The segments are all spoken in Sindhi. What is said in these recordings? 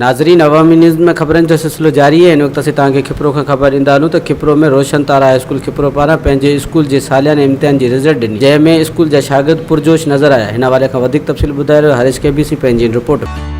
ناظرين عوامي نيوز ۾ خبرن جو سلسلو جاري آهي ان وقت اسين توهان کي کپرو کان خبر ڏيندا هلون ته کپرو ۾ روشن تارا هاء اسڪول کپرو پاران پنهنجي اسڪول جي سالياني امتحان جي رزلٽ ڏني جنهن ۾ اسڪول جا شاگرد پرجوش نظر آيا هن حوالي کان وڌيڪ تفصيل ٻڌائي رهيو هريش ڪي بي سي پنهنجي ان رپورٽ ۾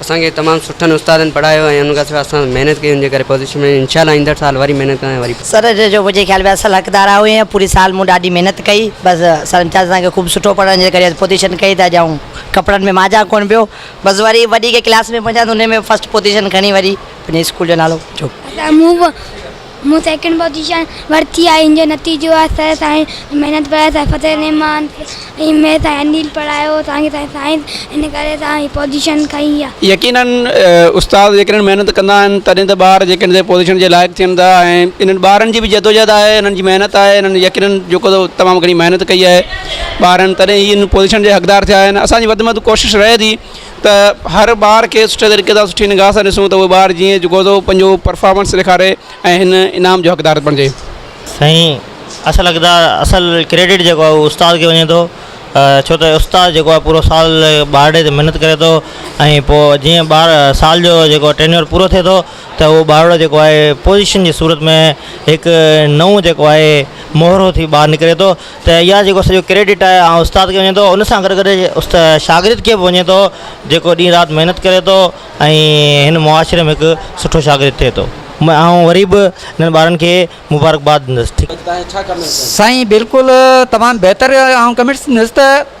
اسان کي تمام سٺن استادن پڙهايو ۽ ان کان سواء اسان سان محنت ڪئي ان جي ڪري پوزيشن ۾ آهيون انشاء الله ايندڙ سال وري محنت ڪنداسين وري پوزيشن. سر جو منهنجي خيال ۾ اصل حقدار آئون هئين پوري سال مون ڏاڍي محنت ڪئي بس سر امتياز اسان کي خوب سٺو پڙهائڻ جي ڪري اڄ پوزيشن ڪئي ته اڄ آئون ڪپڙن ۾ مانجهان ڪونه پيو بس وري وڏي ڪي ڪلاس ۾ پهچان ته ان ۾ فرسٽ پوزيشن کڻي وري پنهنجي اسڪول جو نالو جوڙ. مون سيڪنڊ پوزيشن ورتي آهي ان جو نتيجو آهي سر سائنس محنت پرايو سائين فتح الرحمان ۽ مير سائين انيل پرايو اسان کي سائين سائنس ان ڪري اسان هي پوزيشن کنئي آهي. يقيناً استاد جيڪڏهن محنت ڪندا آهن تڏهن ته ٻار جيڪڏهن سائين پوزيشن جي لائق ٿين ٿا ۽ انهن ٻارن جي به جدوجهد آهي انهن جي محنت آهي انهن يقيناً جيڪو تمام گهڻي محنت ڪئي آهي ٻارن تڏهن هي ان پوزيشن جي حقدار ٿيا آهن اسان جي وڌ ۾ وڌ ڪوشش رهي ٿي ته هر ٻار کي سٺي طريقي سان سٺي نگاهه سان ڏسون ته اهو ٻار جيئن جيڪو سو پنهنجو پرفارمنس ڏيکاري ۽ هن انعام جو حقدار بڻجي. سائين اصل حقدار اصل ڪريڊٽ جيڪو آهي اهو استاد کي وڃي ٿو ڇو ته استاد جيڪو آهي پورو سال ٻار ڏي تي محنت ڪري ٿو ۽ پوء جيئن ٻار سال جو جيڪو ٽينيور پورو ٿئي ٿو ته اهو ٻارڙو جيڪو آهي پوزيشن جي صورت ۾ هڪ نئون جيڪو آهي مهرو ٿي ٻاهر نڪري ٿو ته اها جيڪو سڄو ڪريڊٽ آهي آئون استاد کي وڃي ٿو ان سان گڏ گڏ است شاگرد کي به وڃي ٿو جيڪو ڏينهن رات محنت ڪري ٿو ۽ هن معاشري ۾ هڪ سٺو شاگرد ٿئي ٿو م آئون وري به انهن ٻارن کي مبارڪباد ڏيندس ٺيڪ سائين بلڪل تمام بهتر آئون ڪمينٽس ڏندس ته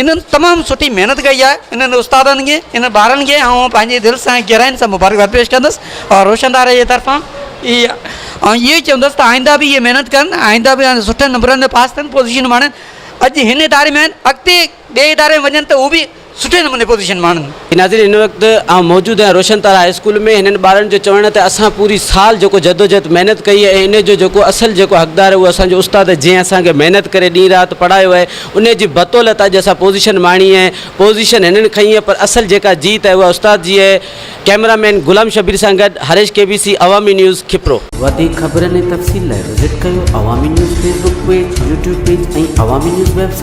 انهن تمام سٺي محنت ڪئي آهي انهن استادن کي انهن ٻارن کي آئون پنهنجي دل سان گهراين سان مبارڪباد پيش ڪندس اور روشندار جي طرفان هي آئون اهو ئي چوندس ته آئنده به اهي محنت ڪن آئنده به سٺن نمبرن سان پاس ٿين پوزيشن ماڻين اڄ هن اداري ۾ آهن اڳتي ٻئي اداري ۾ وڃن ته هو به سٺي نموني پوزيشن ماڻين ناظرين هن وقت آئون موجود آهيان روشن تارا هاء اسڪول ۾ هنن ٻارڙن جو چوڻ آهي ته اسان پوري سال جيڪو جدوجهد محنت ڪئي آهي ۽ ان جو جيڪو اصل جيڪو حقدار اهو اسان جو استاد جنهن اسان کي محنت ڪري ڏينهن رات پڙهايو آهي ان جي بطولت اڄ اسان پوزيشن ماڻي آهي پوزيشن هنن کنئي آهي پر اصل جيڪا جيت آهي اها استاد جي آهي ڪئميرا مين غلام شبير سان گڏ Harish K B C Awami news Khipro. وڌيڪ خبرن ۽ تفصيل لاء وزٽ ڪيو Awami news Facebook page, YouTube page ۽ Awami news web site.